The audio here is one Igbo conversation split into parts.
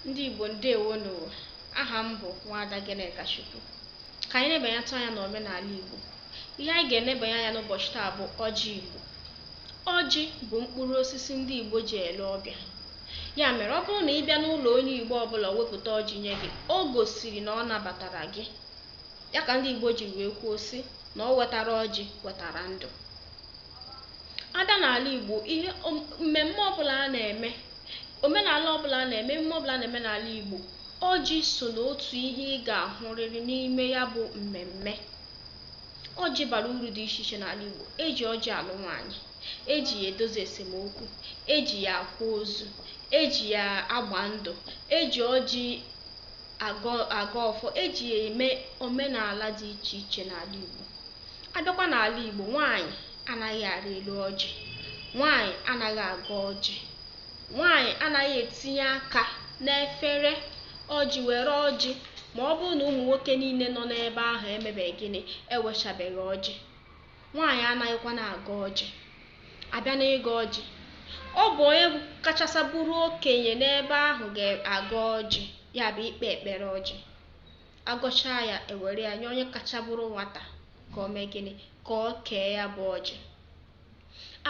ndị Igbo ndewonụ aha m bụ nwaada Gịnịkachukwu ka anyị nebanyetụ anya n'omenala Igbo ihe anyị ga-enebanye anya n'ụbọchị taa bụ ọjị Igbo ọjị bụ mkpụrụ osisi ndị Igbo ji ele ọbịa ya mere ọ bụrụ na ị bịa n'ụlọ onye Igbo ọbụla wepụta ọjị nye gị o gosiri na ọ nabatara gị ya ka ndị Igbo ji wee kwuo sị na o wetara ọjị wetara ndụ abịa n'ala Igbo ihe mmemme ọbụla a na-eme omenala ọbụla a na-eme emume ọbụla a na-eme n'ala Igbo ọjị so n'otu ihe ị ga-ahụrịrị n'ime ya bụ mmemme ọjị bara uru dị iche iche n'ala Igbo eji ọjị alụ nwaanyị eji ya edozi esemokwu eji ya akwa ozu eji ya agba ndụ eji ọjị agọ ọfọ eji ya eme omenala dị iche iche n'ala Igbo Abịakwa n'ala Igbo, nwaanyị anaghị arị elu ọjị, nwaanyị anaghị agọ ọjị, nwaanyị anaghị etinye aka n'efere ọjị were ọjị ma ọ bụrụ na ụmụ nwoke niile nọ n'ebe ahụ emebeghị gịnị ewechabeghị ọjị nwaanyị anaghịkwa na-agọ ọjị abịa n'ịgọ ọjị ọ bụ onye kachasị bụrụ okenye n'ebe ahụ ga-agọ ọjị ya bụ ikpe ekpere ọjị agọchaa ya ewere ya nye onye kacha bụrụ nwata ka o mee gịnị ka o kee ya bụ ọjị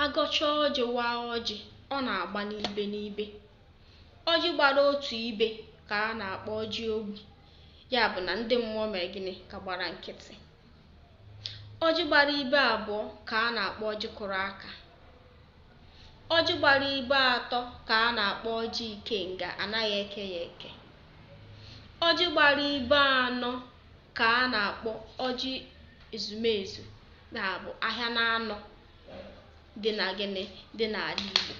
agọcha ọjị waa ọjị ọ na-agba n'ibe n'ibe ọjị gbara otu ibe ka a na-akpọ ọjị ogbi ya bụ na ndị mmụọ mere gịnị ka gbara nkịtị ọjị gbara ibe abụọ ka a na-akpọ ọjị kụrụ aka Ọjị gbara ibe atọ ka a na-akpọ ọjị ikenga, anaghị eke ya eke. Ọjị gbara ibe anọ ka a na-akpọ ọjị ezumezu na-abụ ahịa na anọ dị na gịnị dị n'ala Igbo.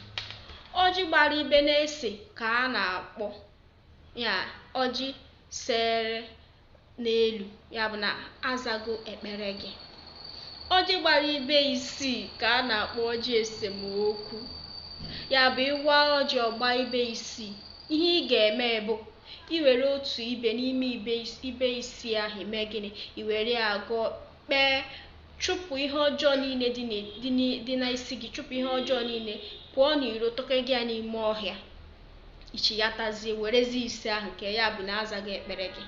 Ọjị gbara ibe n'ise ka a na-akpọ ya ọjị sere n'elu ya bụ na azago ekpere gị ọjị gbara ibe isii ka a na-akpọ ọjị esemokwu ya bụ ị waa ọjị ọ gbaa ibe isii ihe ị ga-eme bụ iwere otu ibe n'ime ibe isii ahụ ime gịnị iwere ya gọọ kpee chụpụ ihe ọjọọ niile dị n'isi gị chụpụ ihe ọjọọ niile pụọ n'iro tọkega ya n'ime ọhịa ichighatazie werezi ise ahụ kee ya bụ na azago ekpere gị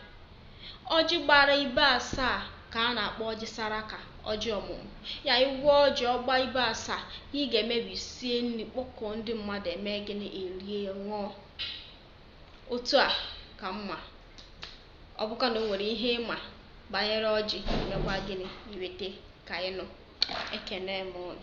ọjị gbara ibe asaa ka a na-akpọ ọjị saraka ọjị ọmụmụ ya ị waa ọjị ọ gbaa ibe asaa ihe ị ga-eme bụ i sie nri kpọkọọ ndị mmadụ eme gịnị erie ṅụọ otu a ka m ma ọ bụkwa na o nwere ihe ị ma banyere ọjị mekwa gịnị i weta ka anyị nụ ekene m ụnụ